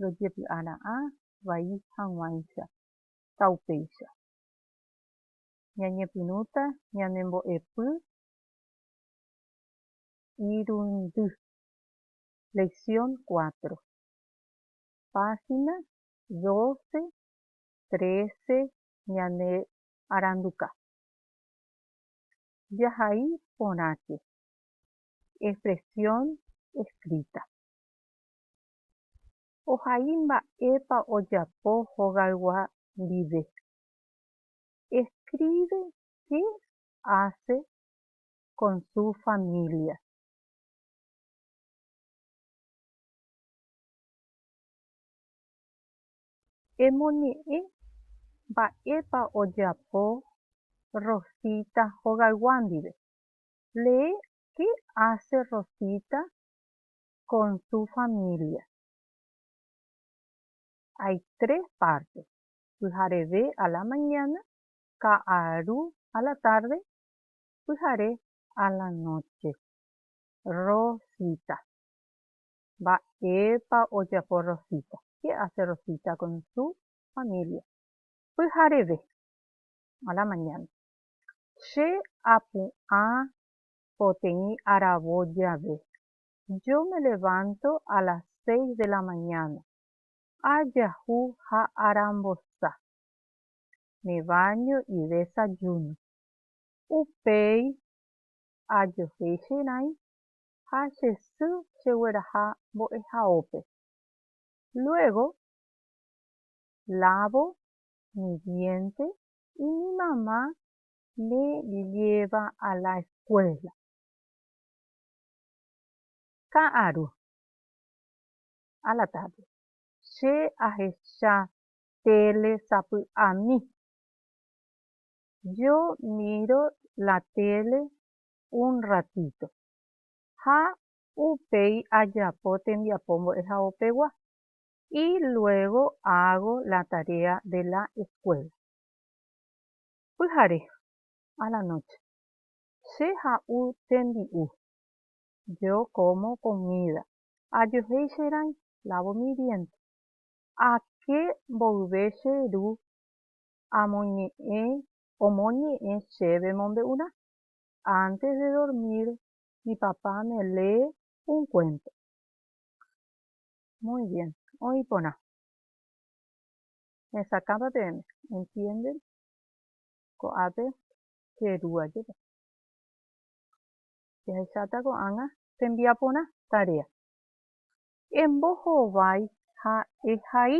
rojepy'ara'ã vai hag̃uáicha ha upéicha. Ñañepyrũta ñanembo'epy irundy. Lección cuatro, página doce, trece ñane aranduka. Jahai porãke expresión escrita. ohai mba'épa ojapo hogaygua ndive. Escribe qué hace con su familia. Emoñe'ẽ mba'épa ojapo Rosita hogaygua ndive. Lee qué hace Rosita con su familia. Hay tres partes, pyhareve a la mañana, ka'aru a la tarde, pyhare a la noche. Rosita. Mba'épa ojapo Rosita? Qué hace Rosita con su familia? Pyhareve a la mañana. Che apu'ã poteĩ aravo jave, Yo me levanto a las seis de la mañana, ajahu ha arambosa, me baño y desayuno. Upéi ajohéi che rãi ha che sy chegueraha mbo'ehaópe. Luego lavo mi diente y mi mamá me lleva a la escuela. Ka'aru. A la tarde. Che ahecha tele sapy'ami. Yo miro la tele un ratito. Ha upéi ajapo tembiapo mbo'ehaopegua. Y luego hago la tarea de la escuela. Pyhare. A la noche. Che ha'u tembi'u. Yo como comida. Ajohéi che rãi, lavo mi diente. Ake mboyve che ru amoñe'ẽ omoñe'ẽ chéve mombe'urã. Antes de dormir mi papá me lee un cuento. Muy bien. Oĩ porã. Hesakãpa peẽme. Entienden? Ko'ápe che ru ajépe. Jahecháta ko'ág̃a chembiaporã tarea. Embohovái ha ehai.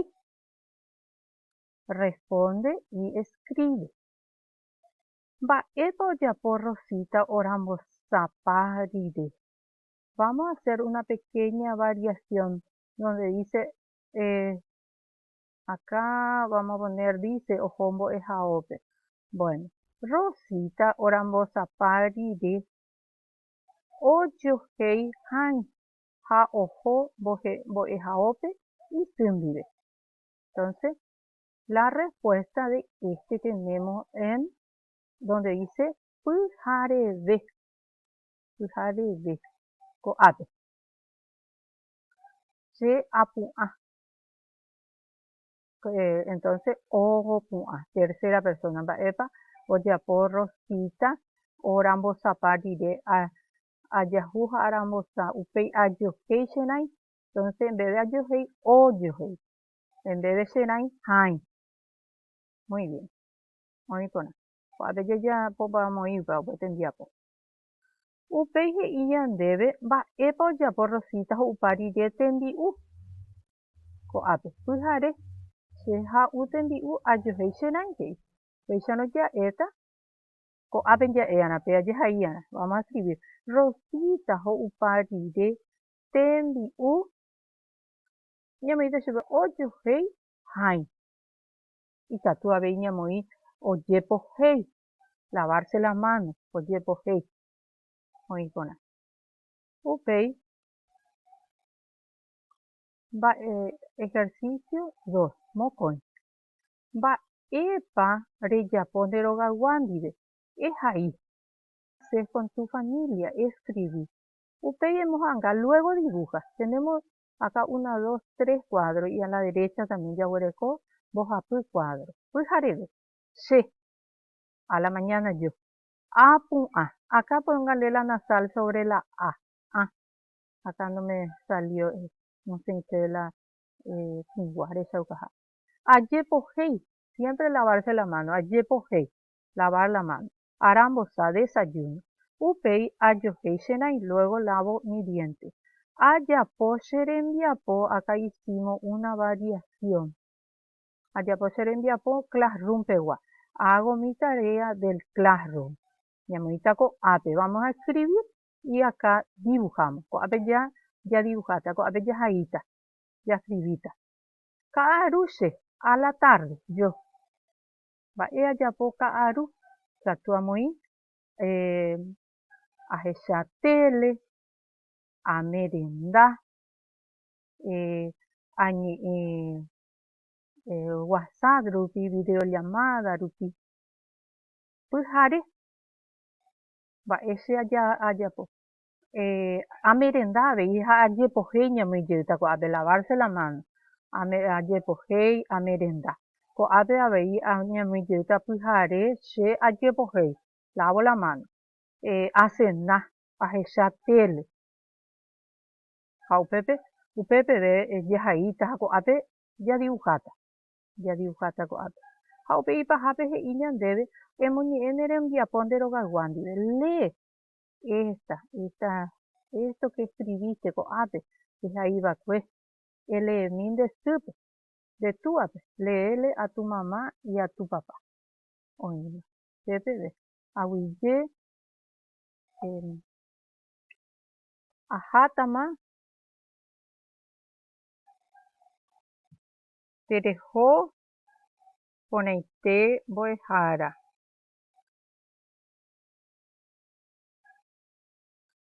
Responde y escribe. Mba'épa ojapo Rosita orambosapa rire? Vamos a hacer una pequeña variación donde dice eh, Akã vamos a poner dice oho mbo'ehaópe. Bueno, Rosita orambosapa rire ojohéi hãi ha oho mbo'ehaópe isy ndive. Entonces, la respuesta de este tenemos en donde dice pyhareve. Pyhareve. Ko'ápe. Che apu'ã. Eh, entonces oho pu'ã, tercera persona, mba'épa ojapo Rosita orambosapa rire, a, ajahu ha arambosã, upéi ajohéi che rãi, entonces en vez de ajohéi, ojohéi, en vez de che rãi, hãi. Muy bien. Oĩ porã. Ko'ápe jajapópa omoĩpa upe tembiapo. Upéi he'i ñandéve mba'épa ojapo Rosita ho'upa rire tembi'u. ko'ápe. Pyhare, che ha'u tembi'u ajohéi che rãitéi. Péicharõ ja'éta ko'ápe ja'éarã, pe ajehaíarã. Vamos a escribir. Rosita ho'upa rire tembi'u ñamoĩta chupe ojohéi hãi. Ikatu avei ñamoĩ ojepohéi, lavarse las manos, ojepohéi. Oĩ porã. Upéi Mba'e ejercicio dos, mokõi. Mba'épa rejapo nde rogaygua ndive? Ehai. Hacer con tu familia, escribí. Upéi emohanga, luego dibuja. Tenemos acá una, dos, tres cuadro y a la derecha también jaguereko mbohapy cuadro. Pyhareve. Che. A la mañana yo. A pu'ã. Acá ponga nde la nasal sobre la a. A. akã ndomesalio nosẽite la tĩgua rechaukaha. Ajepohéi, siémpre lavarse la máno, ajepohéi, lavar la máno, arambosa, desayuno, upéi ajohéi che raĩ, luego lavo mi diente, ajapo che rembiapo, akã hicimos una variación, ajapo che rembiapo classroompegua, hago mi tarea del classroom, ñamoĩta ko'ápe, vamos a escribir y acá dibujamos, ko'ápe ja jadibuháta, ko'ápe jahaíta, jascribíta. Ka'aru che, a la tarde, yo. Mba'e ajapo ka'aru? Katu amoĩ ahecha tele, amerenda, añe'ẽ WhatsApp rupi, video llamada rupi, pyhare. Mba'e che ajapo? Eh, amerenda avei ha ajepohéi ñamoĩ jeýta ko'ápe, lavarse la mano, ajepohéi amerenda. Ko'ápe avei ñamoĩ jeýta pyhare, che ajepohéi, lavo la mano, eh, asena, ahecha tele. Ha upépe, upe peve jahaíta ha ko'ápe jadibuháta. jadiuháta ko'ápe. Ha upe ipahápe he'i ñandéve, Emoñe'ẽ ne rembiapo nde rogayguá ndive. Lee esta, esta, esto que escribiste ko'ápe ehai va'ekue, eleemi nde sýpe, nde túape, léele a tu mamá y a tu papá. Oĩma. Che peve, aguyje, eh, ahátama. tereho porãite mbo'ehára.